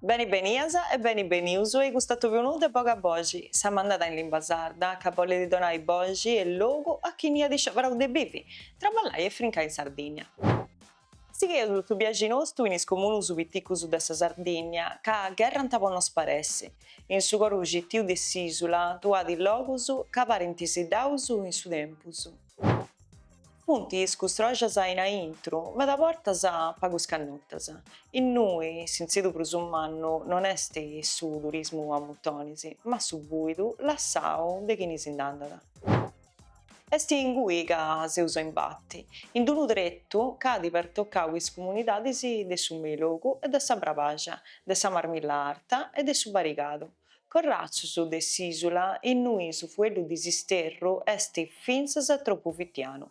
Beni benias e beni benius a custu atòbiu nou de Boga Boxi, sa mandada in limba sarda, ca bollit donai boxi e logu a chini at scioberau de bivi, traballai e frincai in Sardigna. Sigheus su biaxi nostu in is comunus piticus de sa Sardigna, ca gherrant po no sparessi, in su coru citiu de s'isula, tra is logus ca parint siddaus in su tempus. Funt is custroxas in aintru, meda bortas pagus cannotas. Innui s'intzidu prus mannu non est su turismu a mutonis, ma su bùidu lassau de chini si nd'andat. Est ingui ca seus a imbati, in d-unu tretu ca at pertocau is comunidadis de su Meilogu e de sa Brabaxa, de sa Marmilla Arta e de su Barigadu. Corratzus de s'ìsula innui su fueddu de s'isterru est fintzas tropu fitianu.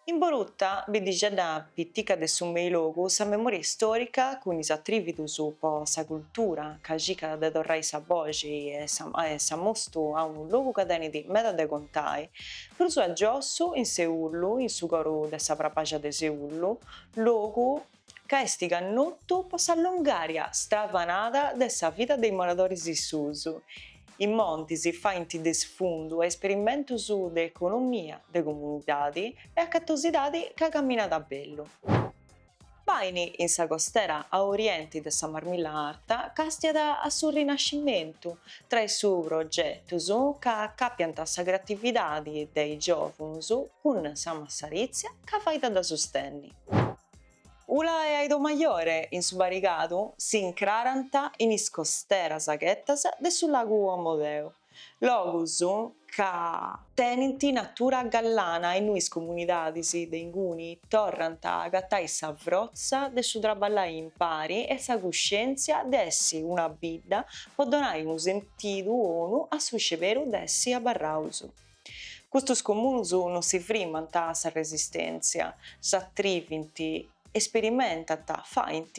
In Boruta biddixedda pitica de su Meilogu sa memoria istòrica cun is atrìvidus po sa cultura ca circat de torrai sa boxi e s'amostu a unu logu ca tenit meda de contai, prus a giossu in Seulu, in su coru de sa Brabàxia de Seulu, logu, ca est cannotu po sa longària stravanada de sa vida de is moradoris issus. Is montis faint de sfundu a isperimentus de economia de comunidadi e acatosidadi ca caminat a bellu. Bàini in sa costera a orienti de sa Marmilla Arta càstiat a su rinascimentu, traessu progetus ca acàpiant sa creatividadi de is giòvunus cun sa massaritzia ca fait a sustenni. Ula e Aidomajore in su Barigadu si incrarant in is costeras chietas de su lagu Omodeu, logus ca, tenint natura gallana e innui is comunidadis de inguni torrant a agatai sa frotza de su traballai impari e sa cuscièntzia de essi una bidda po donai unu sentidu 'onu a su sceberu de essi abarraus. Custos comunus non si frimant a sa resistèntzia, s'atrivint, esperimentant, faint,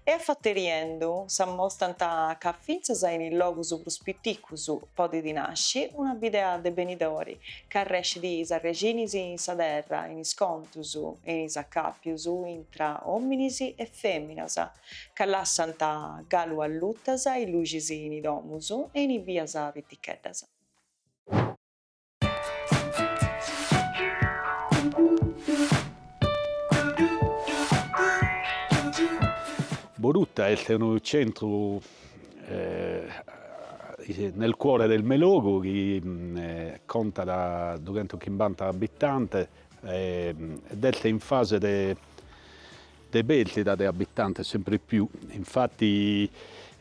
e a fateriendu s'amostant ca fintzas in is logus prus piticus podit nasci una bidea de benidori ca arrèscit is arrexinis in sa terra, in is contus e in is acàpius intra òminis e fèminas, ca lassant galu allutas is luxis in is domus e in is bias piticheddas. Boruta est unu centru nel cuore del Meilogu chi contat dughentoschimbanta abitantes ed est in fase de de pèrdida de abitantes semper più, infatti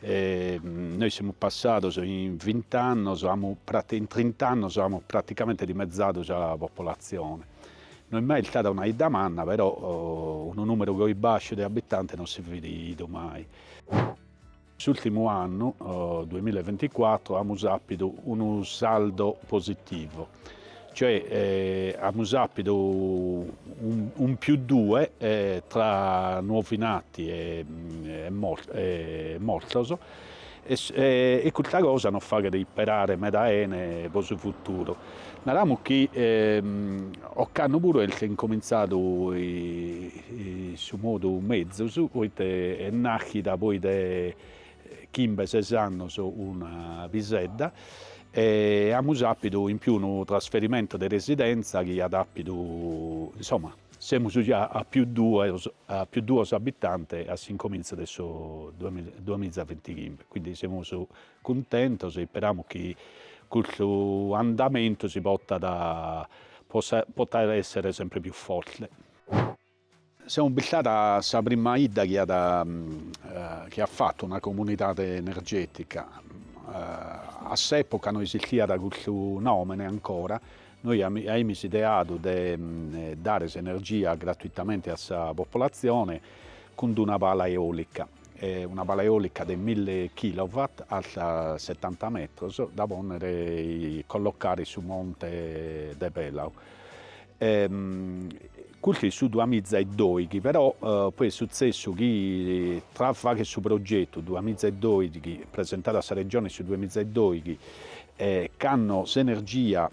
nois semus passados in vint'annos am in trint'annos amus praticamente dimezzadu sa popolatzione, no est mai istada una 'idda manna però unu nùmeru goi bàsciu de abitantes non si fit bidu mai. S'ùrtimu annu, duemilla e vinticuatru, amus àpidu unu saldo positivu, cioè amus àpidu un più due tra nuovi nati e mortos e custa cosa nos faghet isperare meda 'ene pro su futuru. Naramus chi ocannu puru est incomintzadu in su modu mezus, poite est nàschida poi de chimbe ses annus una pisedda e amus àpidu in pius unu trasferimentu de residentza chi at àpidu, insoma, semus già a pius duos a pius duos abitantes a s'incomintzu de su duamiza ventichimbe, quindi semus cuntentos e isperamus chi custu andamentu si potat potat èssere semper pius forte. Semus bistados sa prima 'idda chi at chi at fatu una comunidade energètica. A s'època no esistiat custu nòmene ancora, nois aimis ideadu de dare s'energia gratuitamente a sa populatzione cun d'una pala eòlica. una pala eolica de mille kilowatt alta setanta metros da ponnere e collocare in su monte de Pelau. Custu in su dua miza e doighi però poi est sutzessu chi tra fagher su progetu dua miza e doighi presentadu a sa Regione in su dua miza e doighi cando s'energia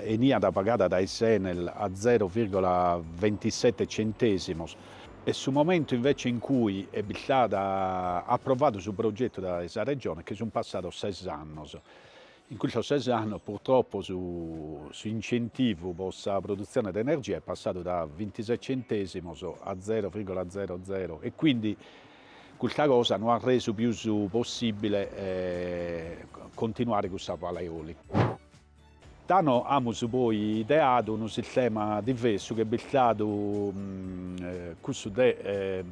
eniat pagada dae s'Enel a zero virgola ventisete centesimos E su momentu invece in cui est bistadu aprovadu su progetu dae sa Regione che sun passados ses annos. In custos ses annos purtroppo su incentivu pro sa produtzione de energia est passadu da vintisei centesimos a zero virgola zero zero e quindi custa cosa no at resu pius possibile continuare cun sa pala eolica. Tando amus poi ideadu unu sistema diversu chi est bistadu cussu de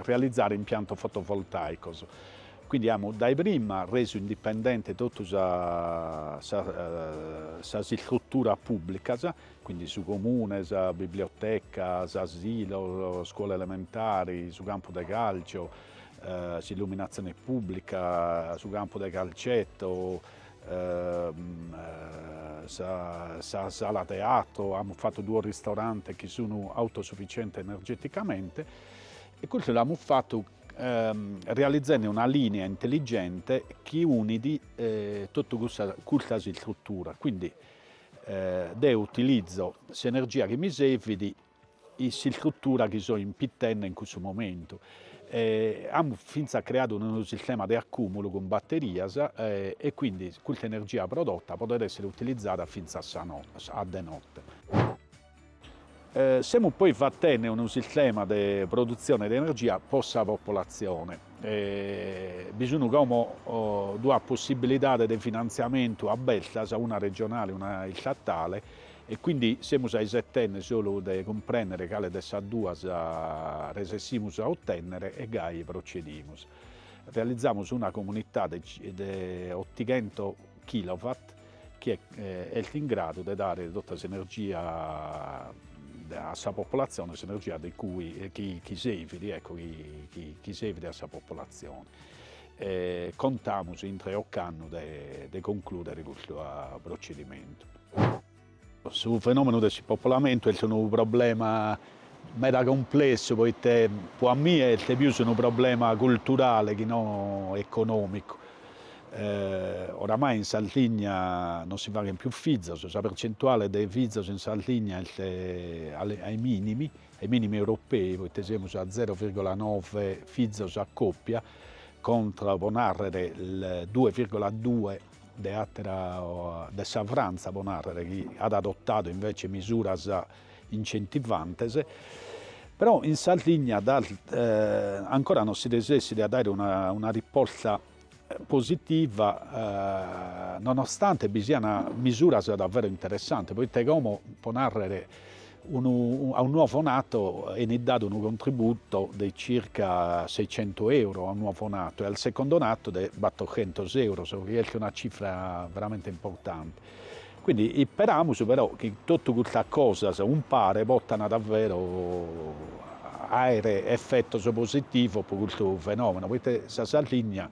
realizare impiantos fotovoltaicos, quindi amus dae prima resu indipendente totu sas istruturas pùblicas, quindi su comune, sa biblioteca, s'asilu, sa scuola elementare, su campu de càlcio, s'illuminatzione pùblica, su campu de calcetto, sa sala de teatro, amus fatu duos ristorantes chi sun autosufficientes energeticamente e custu l'amus fatu realizzende una linea intelligente chi unit totu custas istruturas, quindi deo utilizo s'energia chi mi servit in s'istrutura chi so impitende in cussu momentu. Amus fintzas creadu unu sistema de acùmulu cun baterias e quindi custa energia prodota podet èssere utilizada fintzas a de note. Semus poi fatende unu sistema de produtzione de energia pro sa populatzione. Bi sun como duas possibilidades de finantziamentu abertas, una regionale e una istatale, E quindi semus aisetende solu de cumprendere cale de sas duas resessimus a otennere e gai procedimus. Realizamus una comunitade de ottighento kilowatt chi est in gradu de dare totta s'energia a sa popolazione, s'energia de cui chi servit, ecco, chi servit a sa popolazione. E contamus intre ocannu de concludere custu procedimentu. Su fenòmenu de s'ispopolamentu est unu problema meda cumplessu poite pro a mie est pius unu problema culturale chi no econòmicu. Oramai in Sardigna non si faghent pius fizos, sa percentuale de fizos in Sardigna est ai minimi, ai minimi europei poite semus a zero virgola noe fizos a còpia contra, pro nàrrere, il due virgola due de àtera de sa Frantza, pro nàrrere, chi at adotadu invece misuras incentivantes, però in Sardigna ancora non si resessit a dare una risposta positiva nonostante bi sian misuras davvero interessantes, poite como, pro nàrrere, Unu a unu nuovo nato enit dadu unu contributo de circa seicentu euro a unu nuovo nato e al secondo nato de battochentos euros, chi est una cifra veramente importante. Quindi isperamus però chi totu custas cosas umpare pottana davvero aere effettos positivos po custu fenomeno, poite sa Sardigna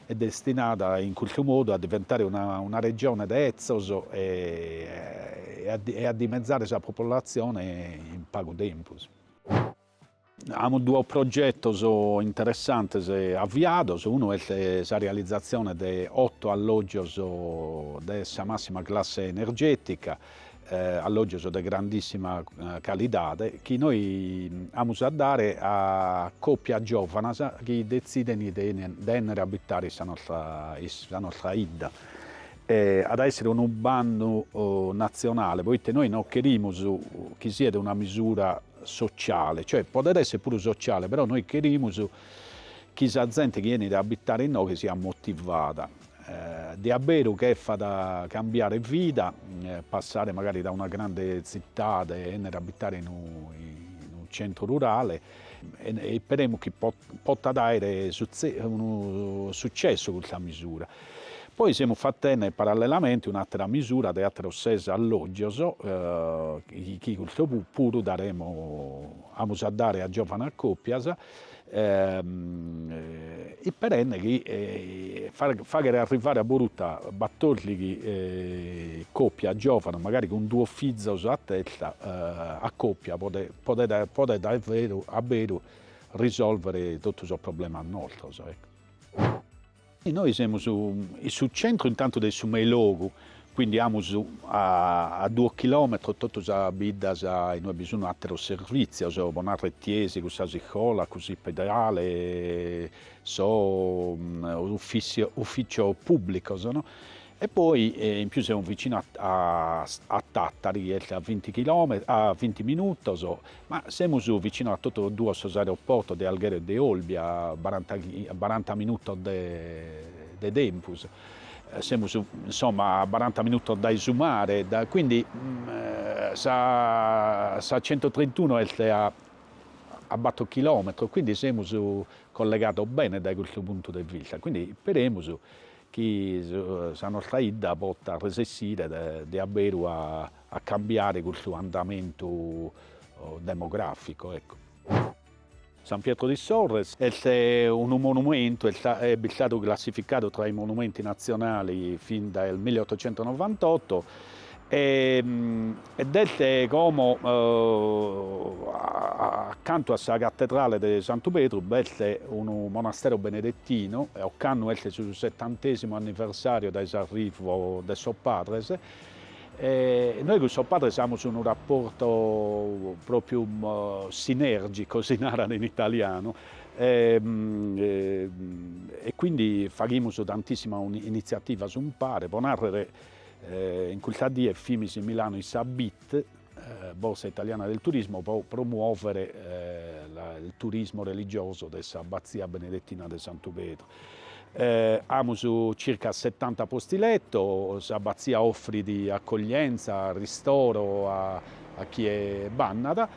est destinada in custu modu a diventare una regione de etzos e a dimezare sa populatzione in pagu tempus. Amus duos progetos interessantes aviados, unu est sa realizatzione de oto allògios de sa màssima classe energètica, allògios de grandìssima calidade chi nois amus a dare a còpias giòvanas chi detzident de ènnere a abitare in sa nostra 'idda. At a èssere unu bannu natzionale, poite nois no cherimus chi siat una misura sotziale, cioè podet èssere puru sotziale però nois cherimus chi sa zente chi 'enit a abitare inoghe siat motivada. De a beru cherfat cambiare vida, passare magari da una grande zittade e ennere a abitare in unu centru rurale, isperemus chi potat aere unu sucessu custa misura. Poi semus fatende parallelamente un'atera misura de ateros ses allogios chi custu puru daremus, amus a dare a giovanas copias, Isperende chi faghere arrivare a Boruta batòrdighi còpias giòvanas, magari cun duos fizos a testa, a còpia podet a beru risolvere totu sos problemas nostros. Nois semus in su centru intantu de su meilogu, quindi amus a duo chilometros totu sas biddas inue bi sunu ateros servizios, pro narrer tiesi cun sas iscolas, cun s'ispedale, sos ufficios publicos no. E poi in pius semus vicino a Tattari chi est a vinti chilometros a vinti minutos Ma semus vicino a totu duos sos aeroportos de Alghero e de Olbia, a baranta minutos de tempus, semus insomma a baranta minutos dae su mare, quindi sa centotrentunu est a bator chilometros, quindi semus collegados bene dae custu puntu de vista, quindi isperemus chi sa nostra 'idda potat resessere de abberu a a cambiare custu andamentu demograficu ecco. San Pietro di Sorres est unu monumentu, est istadu classificadu tra i monumenti natzionali fin dal milleottocentonovantotto ed est como accantu a sa cattedrale de Santu Pedru b'est unu monastero benedettino e ocannu est su settantesimu anniversario dae s'arrivo de sos padres E nois cun sos padres amus unu raportu pròpiu sinèrgicu, si narat in italianu, e quindi faghimus tantissimas initziativas umpare, pro nàrrere, in custas dies fimis in Milano in sa bit, Borsa Italiana del Turismo, pro promuòvere il turismo religioso de s'Abatzia Benedettina de Santu Pedru. Amus circa setanta posti letto, s'abatzia offrit accoglienza e ristoro a chie b'annat,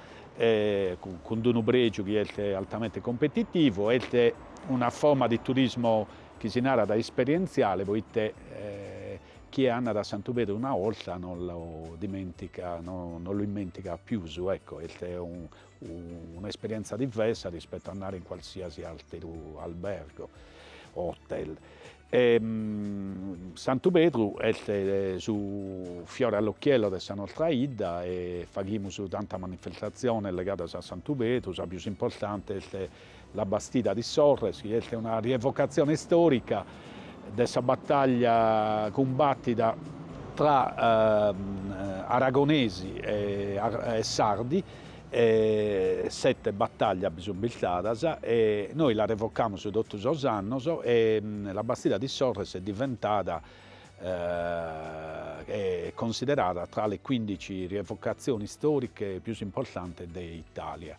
cun d-unu pregiu chi est altamente competitivu, est una forma de turismo chi si narat esperientziale poite chie annat a Santu Pedru una 'olta non lu dimentica, non l'immentigat pius, ecco, est Una esperienza diversa rispetto a andare in qualsiasi àteru albergo o hotel. E, Santu Pedru est su fiore all'occhiello de sa nostra 'idda e faghimus tantas manifestatziones legadas a Santu Pedru, sa pius importante est La Bastida di Sorres, chi est una rievocatzione istòrica de sa batàllia cumbàtida tra aragonesi e sardi, sete batàllias bi sunt istadas e nois la rievocamus totu sos annos e La Bastida di Sorres est diventada e considerada tra le quindici rievocazioni storiche pius importantes de Italia.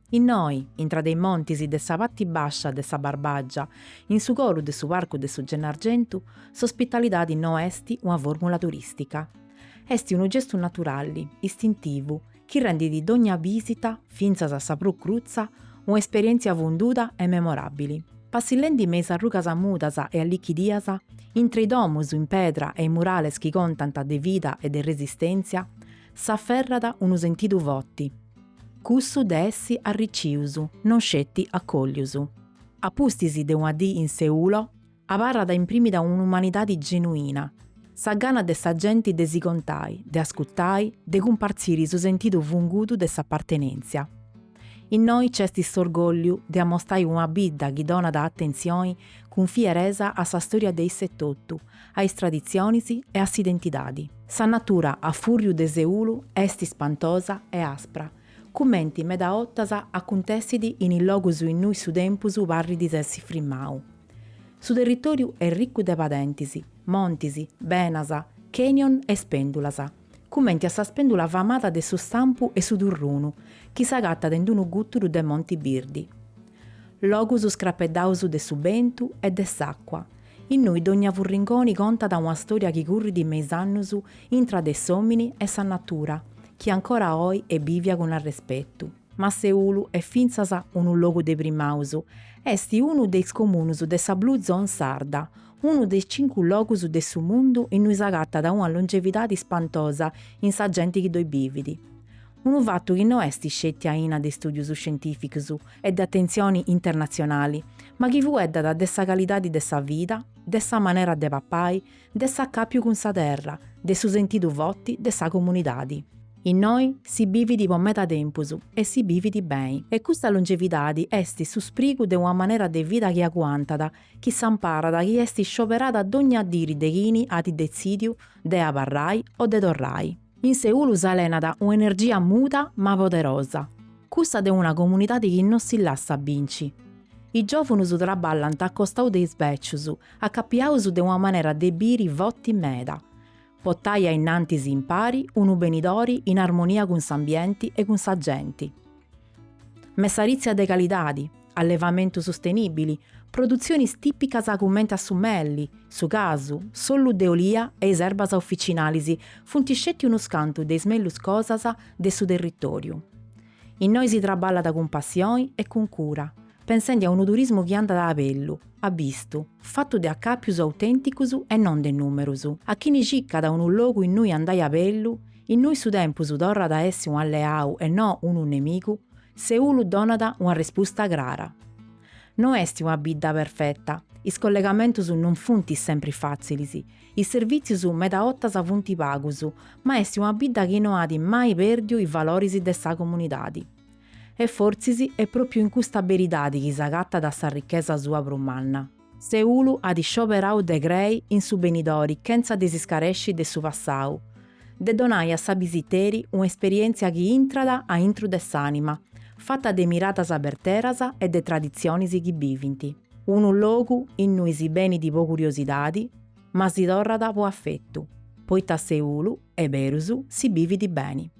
Innoi, intra de is montis de sa parti bàscia de sa Barbàgia, in su coru de su Parcu de su Gennargentu, s'ospitalidadi no est una fòrmula turìstica. Est unu gestu naturali, istintivu, chi rendidi dogna bìsita, fintzas a sa prus crutza, un'esperièntzia funduda e memoràbili. Passillendi me is arrugas mudas e allichidias, intra is domus in pedra e is murales chi contant de vida e de resistèntzia, s'aferrat unu sentidu forti, Cussu de essi arricius. Non sceti acòllius. A pustis de una dì in Seulo, abarrat imprimida un'umanidadi genuina, sa gana de sa genti de si contai, de ascutai, de cumpartziri su sentidu fundudu de s'apartenèntzia. Innoi c'esti s'orgòlliu de amostai una bidda chi donat atentzioni cun fieresa a sa stòria de issa etotu a is traditzionis e a s'identidadi. Sa natura a fùrriu de Seulu est ispantosa e aspra, cumenti medas 'ortas acuntessit in is logus innui su tempus parrit de essi frimmau. Su territòriu est ricu de padentis, montis, benas, canyon e spèndulas, cumenti a sa spèndula famada de su Stampu 'e su Turrunu chi s'agatat in unu gùturu de monti birdi. Logus scrapeddaus de su bentu e de s'àcua, innui dogna furringoni contat una stòria chi currit me is annus intra de s'òmini e sa natura, chi ancora oi est bìvia cun arrespetu. Ma Seulu est fintzas unu logu de primaus, est unu de is comunus de sa Blue Zone sarda, unu de is cincu logus de su mundu innui s'agatat una longevidadi spantosa in sa genti chi ddoi bivit. Unu fatu chi no est sceti aina de istùdius scientìficus e de atentzioni internatzionali, ma chi fueddat de sa calidadi de sa vida, de sa manera de papai, de s'acàpiu cun sa terra, de su sentidu foti de sa comunidadi. Innoi si bivit po meda tempus e si bivit beni. E custa longevidadi est su sprigu de una manera de vida chi aguantat, chi s'amparat chi est scioberada dogna diri de chini at detzìdiu de abarrai o de torrai. In Seulu s'alenat un'energia muda ma poderosa, cussa de una comunidadi chi no si lassat binci. Is giòvunus traballant a costau de is bècius, acapiaus de una manera de biri foti meda. potai a innantis impari unu benidori in armonia cun s'ambienti e cun sa genti. Messaritzia de calidadi, allevamentu sustenìbili, produtzionis tìpicas cumenti a su melli, su casu, s'ollu de olia e is erbas officinalis funt sceti unus cantu de is mellus cosas de su territòriu. Innoi si traballat cun passioni e cun cura, pensendi a unu turismu chi andat a bellu, abistu, fatu de acàpius autènticus e non de nùmerus. A chini circat unu logu innui andai a bellu, innui su tempus torrat a essi un'alleau e no unu nemigu, Seulu donat una respusta crara. No est una bidda perfeta, is collegamentus non funt sempri fàtzilis, is servìtzius meda 'otas funt pagus, ma est una bidda chi no at mai pèrdiu is valoris de sa comunidadi. E fortzis est pròpriu in custa beridadi chi s'agatat s'arrichesa sua prus manna. Seulu at scioberau de crei in su benidori chentza de s'iscaresci de su passau, de donai a su bisiteri un'esperièntzia chi intrat a intru de s'ànima, fata de miradas berteras e de traditzionis chi bivint. Unu logu innui si benit po curiosidadi, ma si torrat po afetu, poita in Seulu, 'e berus, si bivit beni.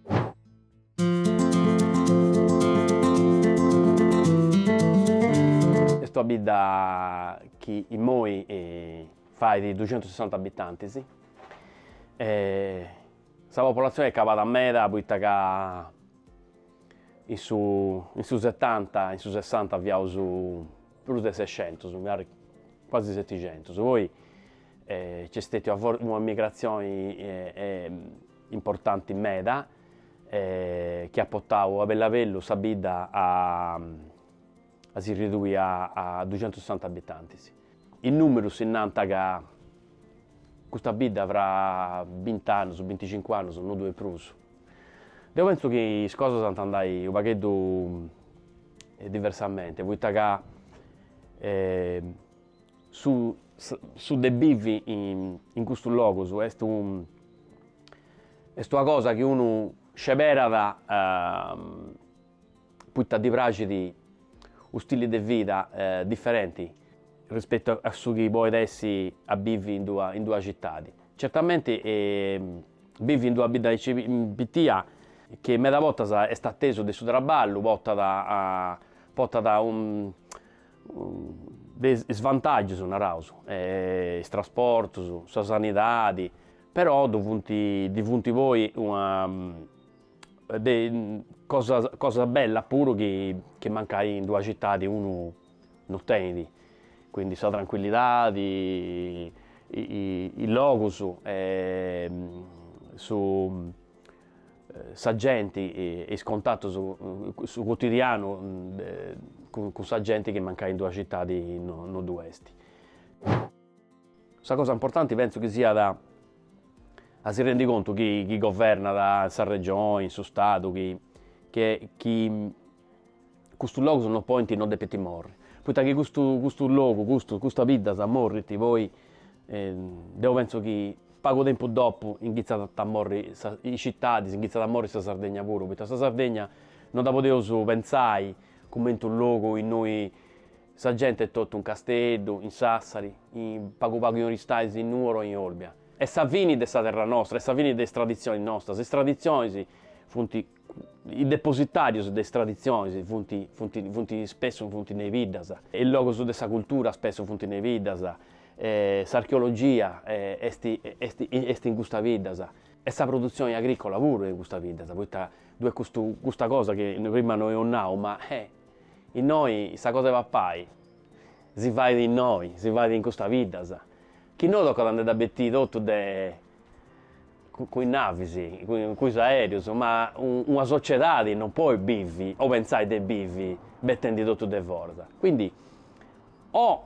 Est una bidda chi immoi fait duxentusessanta abitantis. Sa populatzioni est calada meda poita ca in su in su setanta in su sessanta fiaus prus de sescentus, magari quasi setixentus. Poi nc'est stetia una migrazioni importanti meda e chi at potau a bellu a bellu sa bidda a a si ridui a a duxentussessanta abitantis. Is numerus si nanta ca custa bidda fra bint'annus, binticincu annus no ddu est prus. Deu pentzu chi is cosas ant a andai u' pagheddu diversamenti poita ca su su de bivi in custus logus est u Est una cosa chi unu sceberat poita ddi praxit unu stili de vida diferenti rispetu a su chi podet essi a bivi in d'una in d'una citadi. Certamenti bivi in d'una bidda aici pitia chi meda bortas est a tesu de su traballu portat a portat de isvantagius naraus is trasportus, sa sanidadi, Però ddu funt ddi funt poi cosas cosas bellas puru chi chi mancai in d'una citadi unu non tenit, quindi sa trancuillidadi, is logus e su sa genti e is contatus su cotidianu cun sa genti chi mancai in d'una citadi no no ddu est Sa cosa importanti pentzu chi siat a si rendat contu chini governat in sa Regione, in su Stadu, chi che chi custus logus non podint, non depint morri, poita chi custu custu logu, custus custas biddas morrint poi deu pentzu chi pagu tempus dopu ingitzat a morri sa is citadis, ingitzat a morri sa Sardegna puru, poita sa Sardegna non dda podeus pentzai cumenti unu logu innoi Sa gente est totu in Casteddu, in Sàssari, in pagu pagu in Oristàis, in Nuoro e in Olbia. Est sa fini de sa terra nostra, est sa fini de is traditzionis nostras. Is traditzionis funt, is depositàrius de is traditzionis funt, funt, funt, spessu funt in is biddas. Is logus de sa cultura spessu funt in is biddas. S'archeologia est, est, est in custa biddas. E sa produtzioni agrìcola puru est in custa biddas, poita ddoi est custu, custa cosa chi prima no eus nau, ma, eh, Innoi sa cosa 'e papai si fait innoi, si fait in custa biddas, chi nou tocat a nde dda betiri totu de cun is navis, cun is aereus, ma una sociedadi non podit bivi o pentzai de bivi betendi totu de foras. Quindi o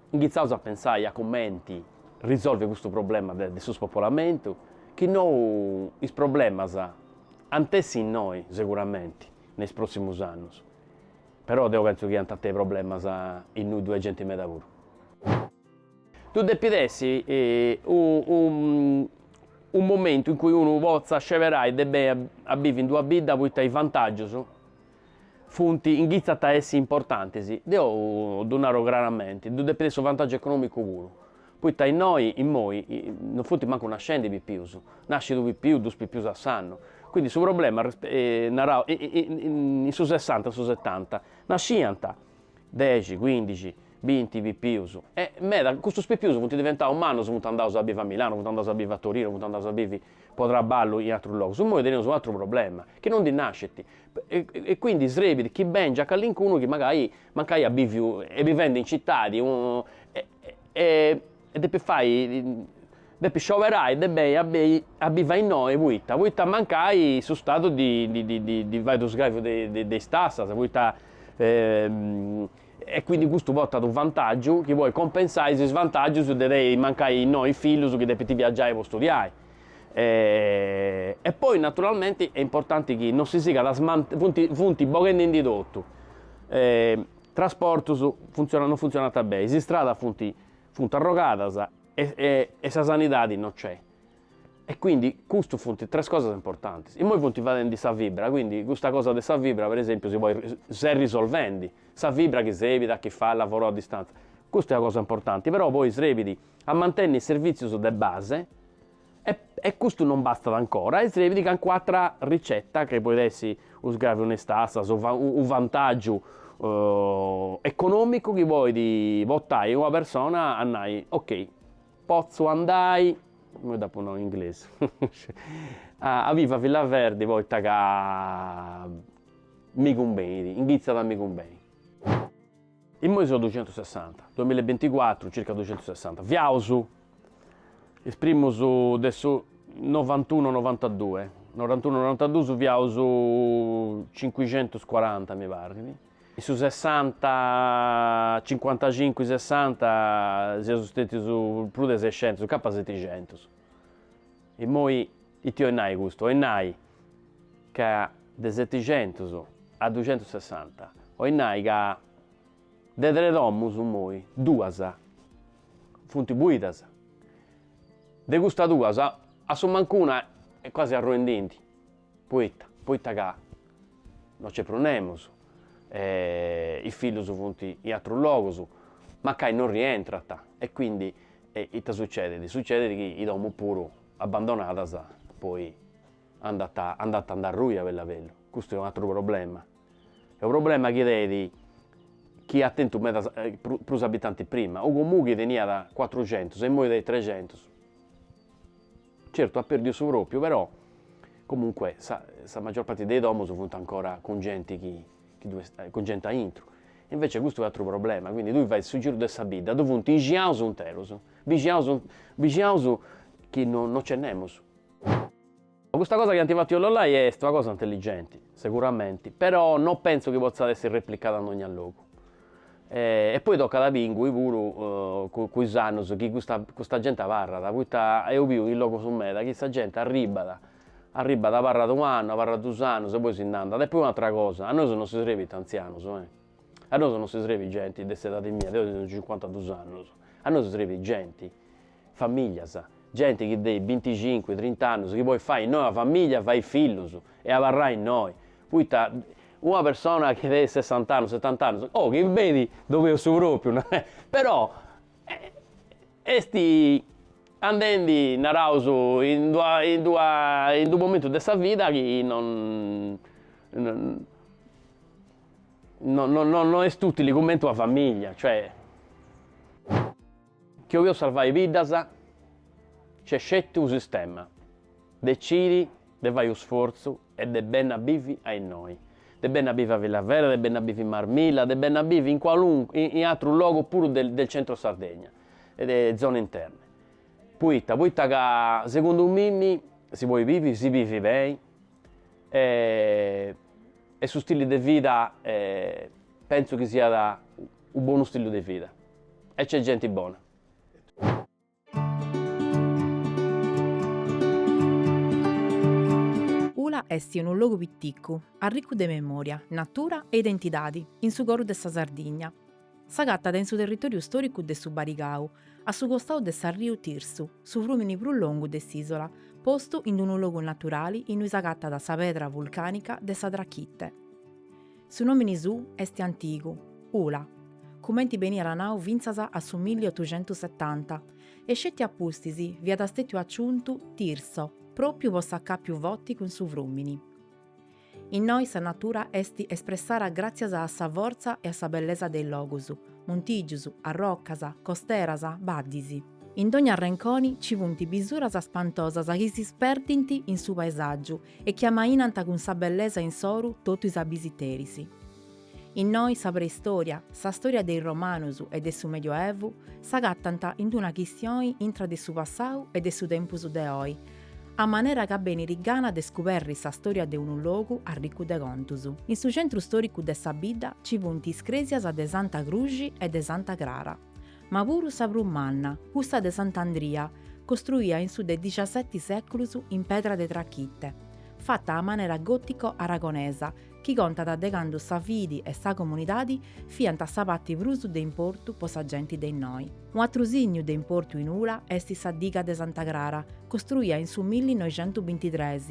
inghitzaus a pentzai a cumenti risolvi custu problema de su spopolamentu, chi nou is problemas ant essi innoi seguramenti. in is pròssimus annus, però deu pentzu chi ant a tenni problemas innui ddoi est genti meda puru. Ddu depit essi unu momentu in cui unu potzat sceberai de beni a bivi in d'una bidda poita is vantàgius funt, inghitzant a essi importantis, deu ddu naru craramenti, ddu depit essi unu vantàgiu econòmicu puru, Poita innoi, immoi, non funt mancu nascendi pipius, nascit unu pipiu, duus pipius a s'annu, quindi su problema, narau, in su sessanta, in su setanta, nascint dexi, cuindixi, binti pipius, e meda, custus pipius funt diventaus mannus, funt andaus a bivi a Milano, funt andaus a bivi a Torino, funt andaus a bivi po traballu in atrus logus, immoi teneus u' atru problema, chi non ndi nascit, e quindi srebit chi bèngiat callincunu chi mancai iat bìviu, est bivendi in citadi E depit fai, depit scioberai de benni a benni a bivi innoi poita poita mancai su Stadu ddi fait u' sgraviu de is tassas poita e quindi custu portat u' vantaggiu chi podit compensai is svantaggius de tenni mancai innoi is fillus chi depint viaggiai po studiai e poi naturalmenti est importanti chi non si sigat a funt funt boghendindi totu Trasportus funtzionant non funtzionant beni, is istradas funt funt arrogadas e sa sanidadi no nc'est. E quindi custus funt tres cosas importantis. Immoi funt fadendi sa fibra, quindi custa cosa de sa fibra per esempiu si podit s'est risolvendi, sa fibra chi serbit a chini fait lavoro a distanza. Custa est una cosa importanti, però poi serbit a mantenni is servizius de base E custu non bastat ancora e srebit cancun'atra ricetta chi podit essi u' sgraviu in is tassas o u' vantagiu economicu chi podit portai una persona a nai, ok potzu andai, imoi dd'apu nau in inglesu, a bivi a Villaverde poita ca mi cumbenit, nci potzat mi cumbenit. Imoi seus ducentus sessanta, duamilla e binticuatru, circa ducentus sessanta, fiaus is primus de su novantunu novantadue, norantunu norantaduus fiaus cincucentus cuaranta mi parrit, in su sessanta cincuantacincu sessanta fiaus stetius prus de sescentus, capat seticentus. Immoi ita 'oit nai custu? 'oit nai ca de seticentus a ducentus sessanta, 'oit nai ca de tres domus immoi duas funt buidas, de custas duas assumancu una est quasi arruendindi. Poita, poita ca no nc'est prus nemus, e is fillus funt in atrus logus, mancai no rientrant, e quindi ita sucedit, sucedit chi is domus puru abbandonadas poi andant, andant a nd'arrui a bellu a bellu, custu est u' atru problema, est u' problema chi tenit, chini at tentu medas prus abitantis prima, u' comunu chi teniat cuatrucentus e imoi tenit trexentus Certu at perdiu su pròpriu però comunque sa sa maggior parte de is domos funt ancora cun genti cun genti aintru e invece custu est atru problema quindi tui fais su giru de sa bidda ddu funt bixaus interus bixaus bixaus chi no no nc'est nemus custa cosa chi ant fatu is lollai est una cosa intelligenti seguramenti però no penso chi potzat essi replicada in dogna logu E poi tocat a bi ingui puru cun is annus chi custa custa genti abarrat, poita deo biu in logus meda chi sa genti arribbat, arribbat abarrat u' annu, abarrat dus annus e poi si nd'andat, e poi un'atera cosa, a nosu non si srebint antzianus e, a nosu no si srebit genti de s'edadi mia, deo tengiu cincuantadus annus, a nosu si srebit genti Famìglias, genti chi de binticincu, trint'annus chi podit fai innoi una famìglia, fai fillus e abarrai innoi, poita una persona chi de sessant'annus, setant'annus, oh chi benit ddoi at su pròpriu, narai, però est andendi, naraus, in d'una in d'una in d'unu momentu de sa vida chi non non est ùtili cumenti una famìglia, cioè. Chi 'oliat sarvai biddas, nc'est sceti unu sistema, decidi de fai u' sforzu e de benni a bivi a innoi, de benni a bivi a Villaverde, de benni a bivi in Marmilla, de benni a bivi in qualunque, in atrus logus puru de del centro Sardegna e de zone interne. Poita, poita ca segundu mei si podit bivi, si bivi beni e e su stili de vida pentzu chi siat U bonu stilu de vida. E c'è genti bona. Ula est unu logu piticu, arricu de memòria, natura e identidadi, in su coru de sa Sardigna. S'agatat in su territòriu stòricu de su Barigau, a su costau de s'arriu Tirsu, su frùmini prus longu de s'ìsola, postu in unu logu naturali innui s'agatat sa pedra vulcànica de sa Trachite. Su nòmini sù est antigu, Ula, cumenti beniat nau fintzas a su milli otuxentus setanta, e sceti a pustis fiat stètiu aciuntu Tirso, pròpiu po s'acàpiu forti cun su frùmini. Innoi sa natura est espressada gràtzias a sa fortza e a sa bellesa de is logus, muntìgius, arrocas, costeras, baddis. In dogna arrenconi nci funt bisuras spantosas chi si sperdint in su paesàgiu e chi amainant cun sa bellesa insoru totu is abisiteris. Innoi sa preistòria, sa stòria de is romanus e de su Medioevu s'agatant in una chistioni intra de su passau e de su tempus de oi, a manera ca benit gana de scuberri sa stòria de unu logu arricu de contus. In su centru stòricu de sa bidda ci funt is crèsias de Santa Cruxi e de Santa Crara. Ma puru sa prus manna, cussa de Sant'Andria, costruia in su de diciaseti seculus in pedra de trachite, fata a manera gotico-aragonesa, chi contat de candu sa fidi e sa comunidadi fiant a sa parti prus de importu po sa genti de innoi. Un'atru signu de importu in Ula est sa diga de Santa Crara, costruia in su millinoixentu bintitres,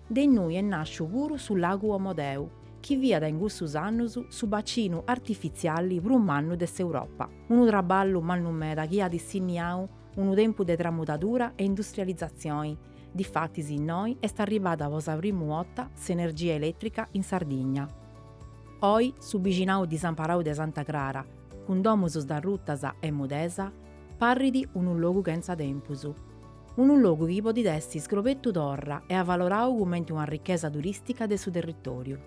de innui est nasciu puru su lagu Omodeu, chi fiat in cussus annus su bacinu artifitziali prus mannu de s'Europa, unu traballu mannu meda chi at sinniau unu tempus de tramudadura e industrializatzioni, difatis innoi est arribada po sa primu 'otta s'energia elètrica in Sardigna. Oi su bixinau disamparau de Santa Crara, cun domus sdarrutas e mudesa, parrit unu logu chentza tempus. Unu logu chi podit essi iscobertu torra e avalorau cumenti una ricchesa turistica de su territoriu.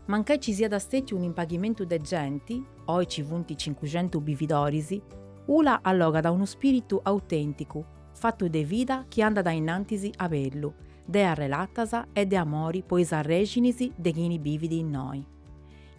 Mancai ci siat stetiu un impaghimentu de genti, oi ci funt cincucentu bividoris, Ula allogat unu spiritu autenticu, fatu de vida chi andat a innantis a bellu, de arrelatas e de amori po is arrexinis de chini bivit innoi.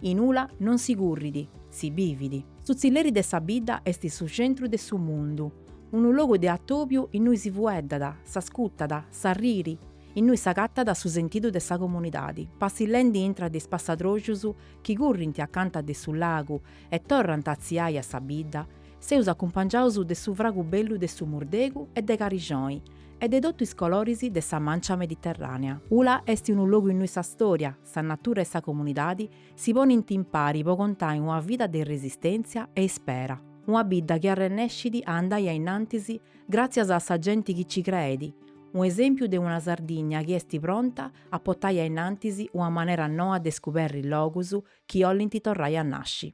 In Ula non si currit, si bivit. Su tzilleri de sa bidda est su centru de su mundu. Unu logu de atòbiu innui si fueddat, s'ascutat, s'arriri, innui s'agatat su sentidu de sa comunidadi, passillendi intra de is passadrojus chi currint acanta de su lagu e torrant a tziai a sa bidda, seus acumpangiaus de su fragu bellu de su murdegu e de carijoni e de totu is coloris de sa mancia mediterrànea. Ula est unu logu innui sa stòria, sa natura e sa comunidadi Si ponint impari po contai una vida de resistèntzia e ispera, una bidda chi arrennescit a andai a innantis gràtzias a sa genti chi ci creet, unu esèmpiu de una Sardigna chi est pronta a portai a innantis una manera noa de scuberri logus chi 'olint torrai a nasci.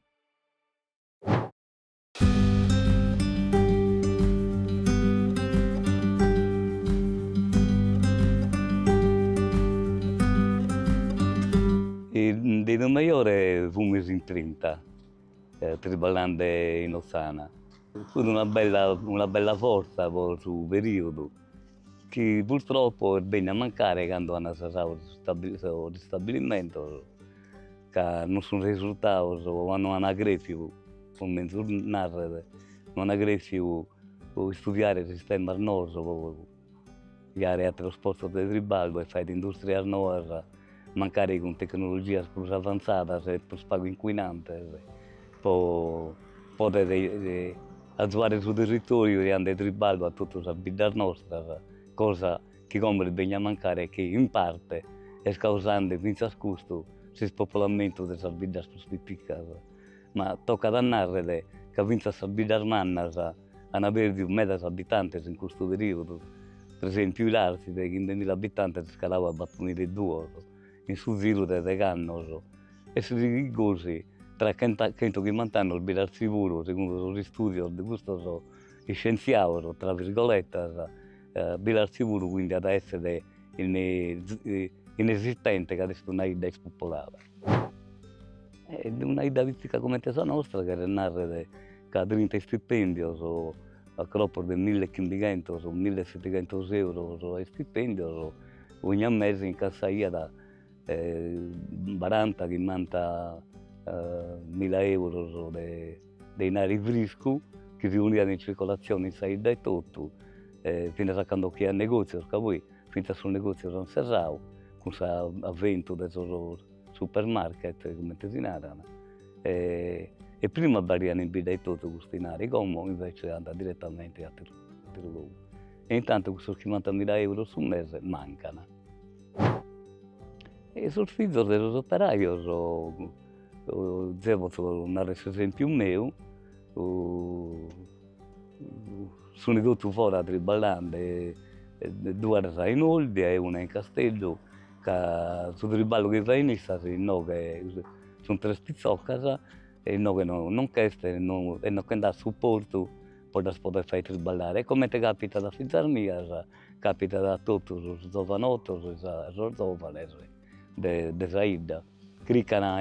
De prus mejore fumus in trinta triballende in Otzana, fut una bella una bella fortza po su periodu Chi purtroppo est benniu a mancare cando an serradu sos istabilimentos ca non sun resurtados o no an crèfiu comente narrer no an crèfiu po istudiare sistemas noos po criare ateros postos de triballu e fagher industrias noas mancari cun tecnologias prus avantzadas e prus pagu incuinantes, po poder azuare su territoriu giande triballu a totu sas biddas nostras, cosa chi como est bennia a mancare e chi in parte est causande fintzas custu s'ispopolamentu de sas biddas prus piticas, ma tocat a narrer ca fintzas sas biddas mannas Ant pèrdiu medas abitantes in custu perìodu, pre esèmpiu Ilartzi de chimbemila abitantes est calau a batumila e duos in su ziru de degh'annos e si sighit gosi tra chenta chentu chimbant'annos Bilartzi puru, segundu sos istùdios de custos iscientziados, tra virgoletas, Bilartzi puru, quindi at a èssere inesistente, ca est una 'idda ispopolada. E de una 'idda pitica comente sa nostra cheret narrer ca trinta istipendios a cropos de mille e chimbighentos o mille e setighentos euros a istipendios ogna mese incassaiat baranta chimbanta mila euros de de 'inari friscu chi si poniat in circolatzione in sa 'idda etotu e finas a cando ch'aiat negòtzios ca poi Fintzas sos negòtzios ant serradu cun s'aventu de sos supermarket, comente si naran, e prima abarraiat in bidda etotu custu inari, como invece andat direttamente in atteru atteru logu. E intantu cussos chimbanta mila euros su mese mancan. E sos fizos de sos operajos, zeo potzo narrer s'esempiu meu Sunt totu fora triballande, duas in Olbia e una in Casteddu, ca su triballu chi fain issas inoghe sunt tres pitzoccas e inoghe no non ch'est e non che nd'at supportu po ddas poder fai triballare e comente capitat a fizas mias capitat a totu sos zovanottos e sos zovanes de de sa 'idda, criccana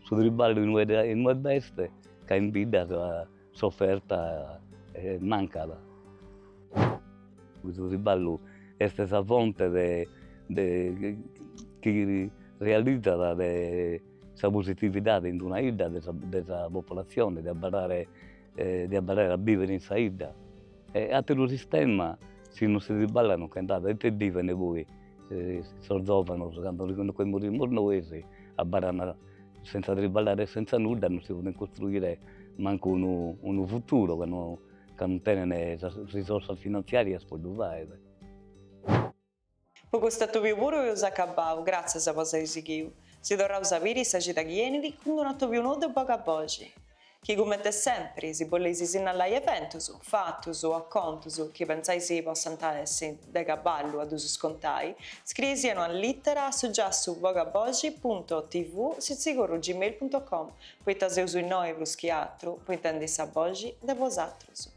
su triballu in ue in ue b'est ca in bidda S'oferta mancat. E su triballu est sa fonte de de chi realizzat de sa positividade in una 'idda de sa de sa popolazione de abarrare de abarrare a bivere in sa 'idda e atteru sistema si non si triballat non che nd'at e ite biven poi sos zovanos cando nche morimus nois abarrana Senza triballare e senza nudda non si podent costruire mancu unu unu futuro ca no ca non tenent sas risorsas finanziarias po ddu faer. Po custu atòbiu puru eus acabau, gratzias po s'aer sighiu. Si torraus a biri sa cida chi enit, cun d'un'atòbiu nou de Boga boxi. chi cummente sèmpiri si boleis sinnallai eventus, fatus o acontus chi pentzais possant essi de caballu a ddus contai, scrieis-sì una lìtera a su giassu bogaboxi punto tv sitzigurru gmail punto com, poita seus innoi prus chi atru po intendi sa boxi de bosatrus.